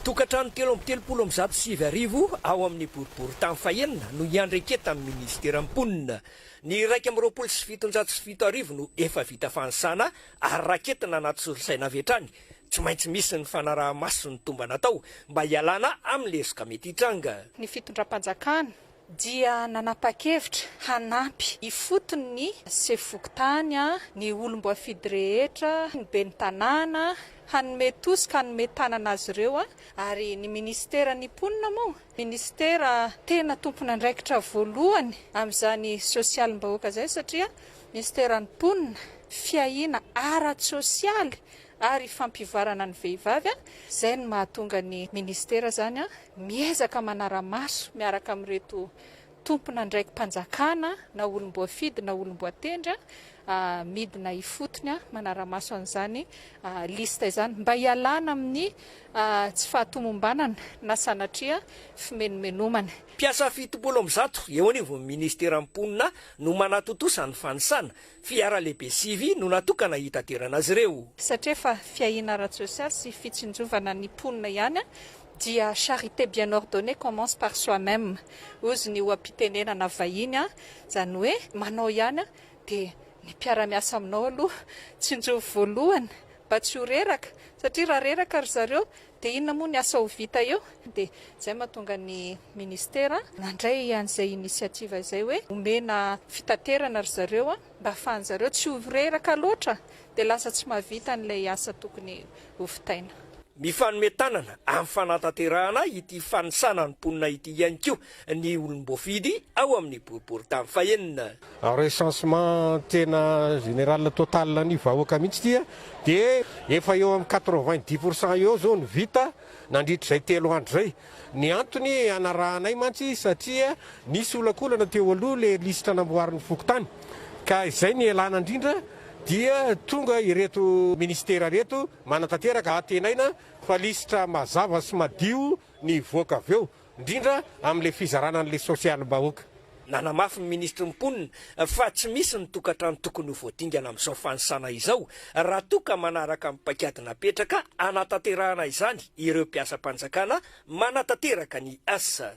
Tokantrano telo amby telopolo amby zato sy sivy arivo ao amin'ny boriborintany fahenina no hiandraiketan'ny minisiteran'ny Mponina. Ny iraika amby roapolo sy fitonjato sy fito arivo no efa vita fanisana ary raketina anaty solosaina avy hatrany, tsy maintsy misy ny fanaraha-maso ny tombana atao mba hialana amin'ny lesoka mety hitranga. Ny fitondram-panjakana dia nanapa-kevitra hanampy ifotony ny sefo fokontany, ny olom-boafidy rehetra, ny ben'ny tanàna, hanome tosika, hanome tanana azy ireo, ary ny minisiteran'ny mponina moa, minisitera tena tompon'andraikitra voalohany amin'izany sosialim-bahoaka izay satria minisiteran'ny mponina, fiahiana ara-tsosialy ary fampivoarana ny vehivavy, izay no mahatonga ny minisitera izany miezaka manara-maso miaraka amin'ireto tompon'andraiki-panjakana na olom-boafidy na olom-boatendry midina ifotony manara-maso an'izany liste izany mba hialana amin'ny tsy fahatomombanana na sanatria fimenomenomana. Mpiasa fitopolo amby zato eo anivon'ny ministeran'ny mponina no manatontosa ny fanisana Fiara lehibe sivy no natokana hitaterana azy ireo. Satria efa fiahiana ara-tsosialy sy fitsinjovana ny mponina ihany dia charité bien ordonnée commence par soi même ozy ny oha-pitenenana vahiny izany hoe manao ihany dia ny mpiara-miasa aminao aloha tsinjovy voalohany mba tsy ho reraka satria raha reraka ry zareo Dia inona moa ny asa ho vita eo? Dia izay mahatonga ny Ministera nandray an'izay initiative izay hoe omena fitaterana ry zareo mba ahafahan'ny zareo tsy ho reraka loatra dia lasa tsy mahavita an'ilay asa tokony ho vitaina. Mifanome tanana amin'ny fanantanterahana ity fanisana ny mponina ity ihany koa ny olom-boafidy ao amin'ny boriborintany fahenina. Recensement tena général total ny vahoaka mihitsy ity dia efa eo amin'ny quatre vingt dix pour cent eo izao no vita nandritra izay telo andro izay. Ny antony hanarahanay mantsy satria nisy olakolana teo aloha ilay lisitra namboarin'ny fokontany ka izay no ialana indrindra dia tonga ireto ministera ireto manatanteraka hantenaina fa lisitra mazava sy madio ny hivoaka avy eo. indrindra amin'ilay fizarana an'ilay sosialim-bahoaka. Nanamafy ny minisitry ny Mponina fa tsy misy ny tokantrano tokony ho voadingana amin'izao fanisana izao raha toa ka manaraka ny paikady napetraka hanatanterahana izany ireo mpiasam-panjakana manatanteraka ny asa